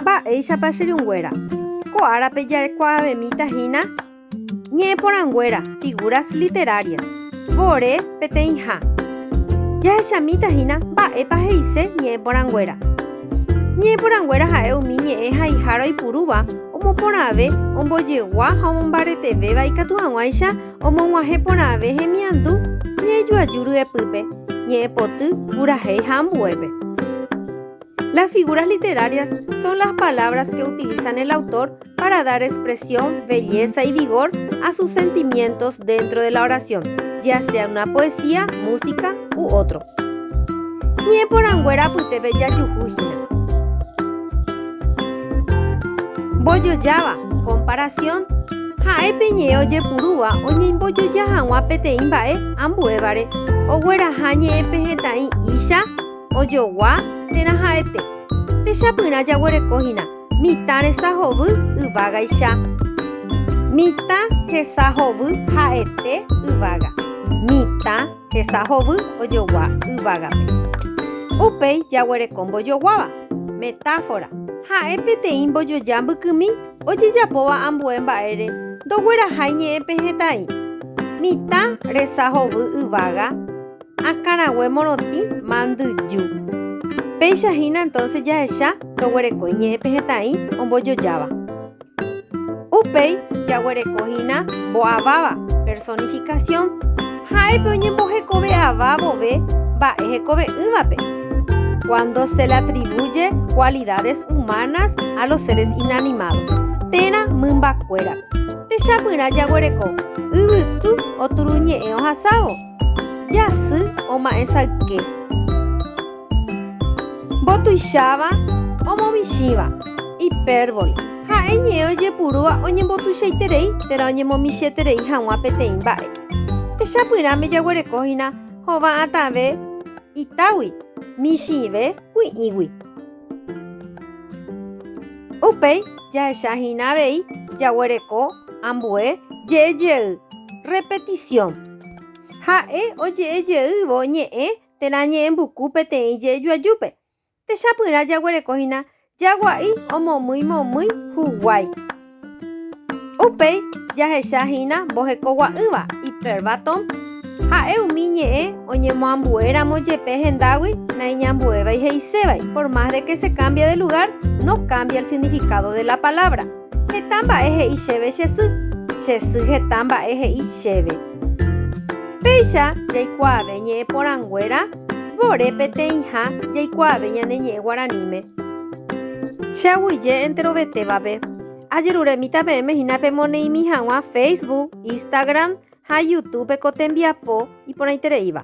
Mba'éichapa che ryũnguéra? Ko árape jaikuaavemíta hína ñe'ẽporãnguéra, figuras literarias, vore peteĩha. Jahechamíta hína mba'épa he'ise ñe'ẽporãnguéra. Ñe'ẽporãnguéra ha'e umi ñe'ẽ haiha roipurúva omoporãve ombojegua ha omombaretevéva ikatu hag̃uáicha omog̃uahẽ porãve hemiandu ñe'ẽjoaju ryepýpe, ñe'ẽpoty, purahéi ha ambuépe. Las figuras literarias son las palabras que utilizan el autor para dar expresión, belleza y vigor a sus sentimientos dentro de la oración, ya sea en una poesía, música u otro. Ñe poranguera apyte pe jajuhu hína. Mbojojáva, comparación, ha'e pe ñe'ẽ ojepurúva oñeimbojoja hag̃ua peteĩ mba'e ambuévare ogueraha ñe'ẽ pe hetãi'icha, ojogua térã ha'ete. Techapyrã jaguereko hína mitã resa hovy yvágaicha. Mitã resa hovy ha'ete yvága. Mitã resa hovy ojogua yvágape. Upéi jaguereko mbojoguáva, metáfora, ha'e peteĩ mbojoja mbykymi ojejapóva ambue mba'ére ndoguerahái ñe'ẽ pehẽtai. Mitã resa hovy yvága. akãrague morotĩ mandyju. Péicha hína entonces jahecha toguerekói ñe'ẽ pehetã'i ombojojáva. Upéi jaguereko hína mbo'aváva, personificación, ha'épe oñembohekove ava vove mba'e hekove'ỹvape, cuando se le atribuye cualidades humanas a los seres inanimados, térã mymbakuérape. Techapyrã jaguereko yvytu oturuñe'ẽ ohasávo. Jasy oma'ẽsayke. Mbotuicháva omomichĩva, hipérbole, ha'e ñe'ẽ ojepurúva oñembotuichaiterei térã oñemomichĩeterei hag̃ua peteĩ mba'e. Techapyrãme jaguerekóhina hova'atãve itágui, michĩve kui'ĩgui. Upéi jahechahína avei jaguereko ambue je'ejey, repetición. Ha'e oje'e jeývo ñe'ẽ térã ñe'ẽmbuku peteĩ je'ju ajúpe. Techapyrã jaguereko hína jagua'i omomýi momýi huguái. Upéi jahecha hína mbohekogua'ỹva, hyperbâton, ha'e umi ñe'ẽ oñemoambue ramo jepe hendágui naiñambuévai he'isévai, por más de que se cambie de lugar, no cambia el significado de la palabra. Heta mba'e he'i chéve che sy, che sy heta mba'e he'i chéve. Péicha jaikuaave ñe'ẽ porãnguéra vore peteĩha jaikuaave ñane ñe'ẽ guaraníme. Che aguyje enterovetévape, ajeruremíta peẽme hína pemoneĩmi hag̃ua Facebook, Instagram ha Youtube-pe ko tembiapo iporãitereíva.